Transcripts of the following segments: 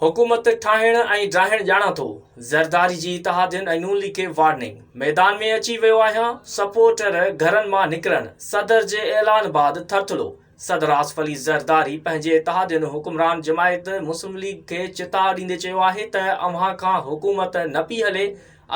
حڪومت ٺاهڻ ۽ ڊاهڻ ڄاڻان ٿو، زرداري جي اتحادين ۽ نون ليگ کي وارننگ، ميدان ۾ اچي ويو آهيان، سپورٽر گهرن مان نڪرڻ، صدر جي اعلان بعد ٿرٿلو، صدر آصف علي زرداري پنهنجي اتحادين حڪمران جماعت مسلم ليگ کي چتاء ڏيندي چيو آهي ته اوهان کان حڪومت نه پئي هلي،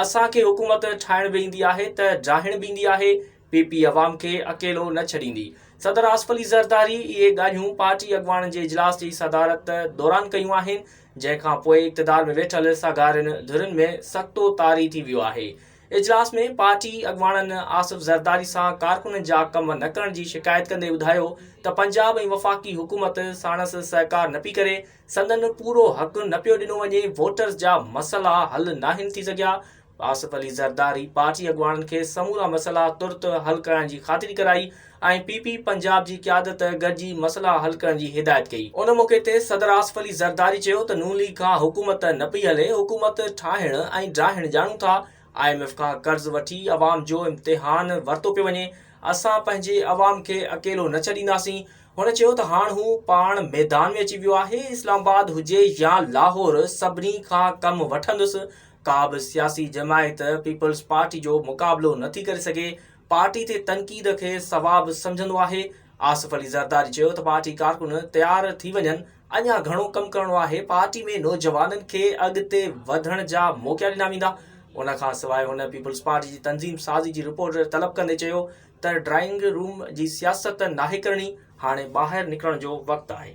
اسان کي حڪومت ٺاهڻ به ايندي آهي ته ڊاهڻ به ايندي آهي، پي پي عوام کي اڪيلو نه ڇڏيندي، صدر آصف علي زرداري اهي ڳالهيون پارٽي اڳواڻن جي اجلاس جي صدارت دوران ڪيون آهن، جنهن کان پوء اقتدار ۾ ويٺل ساڳارين ڌرين ۾ سڪتو طاري ٿي ويو آهي. اجلاس ۾ پارٽي اڳواڻن آصف زرداري سان ڪارڪنن جا ڪم نه ڪرڻ جي شڪايت ڪندي ٻڌايو ته پنجاب ۽ وفاقي حڪومت ساڻس سهڪار نه پئي ڪري، سندن پورو حق نه پيو ڏنو وڃي، ووٽرز جا مسئلا حل ناهن ٿي سگهيا، آصف علي زرداري پارٽي اڳواڻن کي سمورا مسئلا ترت حل ڪرائڻ جي خاطري ڪرائي ۽ پي پي پنجاب جي قيادت گڏجي مسئلا حل ڪرڻ جي هدايت ڪئي. ان موقعي تي صدر آصف علي زرداري چيو ته نون ليگ کان حڪومت نه پئي هلي، حڪومت ٺاهڻ ۽ ڊاهڻ ڄاڻون ٿا، آء ايم ايف کان قرض وٺي عوام جو امتحان ورتو پيو وڃي، اسان پنهنجي عوام کي اڪيلو نه ڇڏينداسين، هن چيو ته هاڻ هو پاڻ ميدان ۾ اچي ويو آهي، اسلام آباد هجي يا لاهور سڀني کان ڪم وٺندس، ڪا به سياسي جماعت پيپلز پارٽي جو مقابلو نٿي ڪري سگهي، پارٽي تي تنقيد کي ثواب سمجهندو آهي، آصف علي زرداري چيو ته پارٽي ڪارڪن تيار ٿي وڃن، اڃا گهڻو ڪم ڪرڻو آهي، پارٽي ۾ نوجوانن کي اڳتي وڌڻ جا موقعا ڏنا ويندا، ان کانسواء هن پيپلز پارٽي جي تنظيم سازي جي رپورٽ طلب ڪندي چيو ته ڊرائنگ روم جي سياست ناهي ڪرڻي، هاڻي ٻاهر نڪرڻ جو وقت آهي.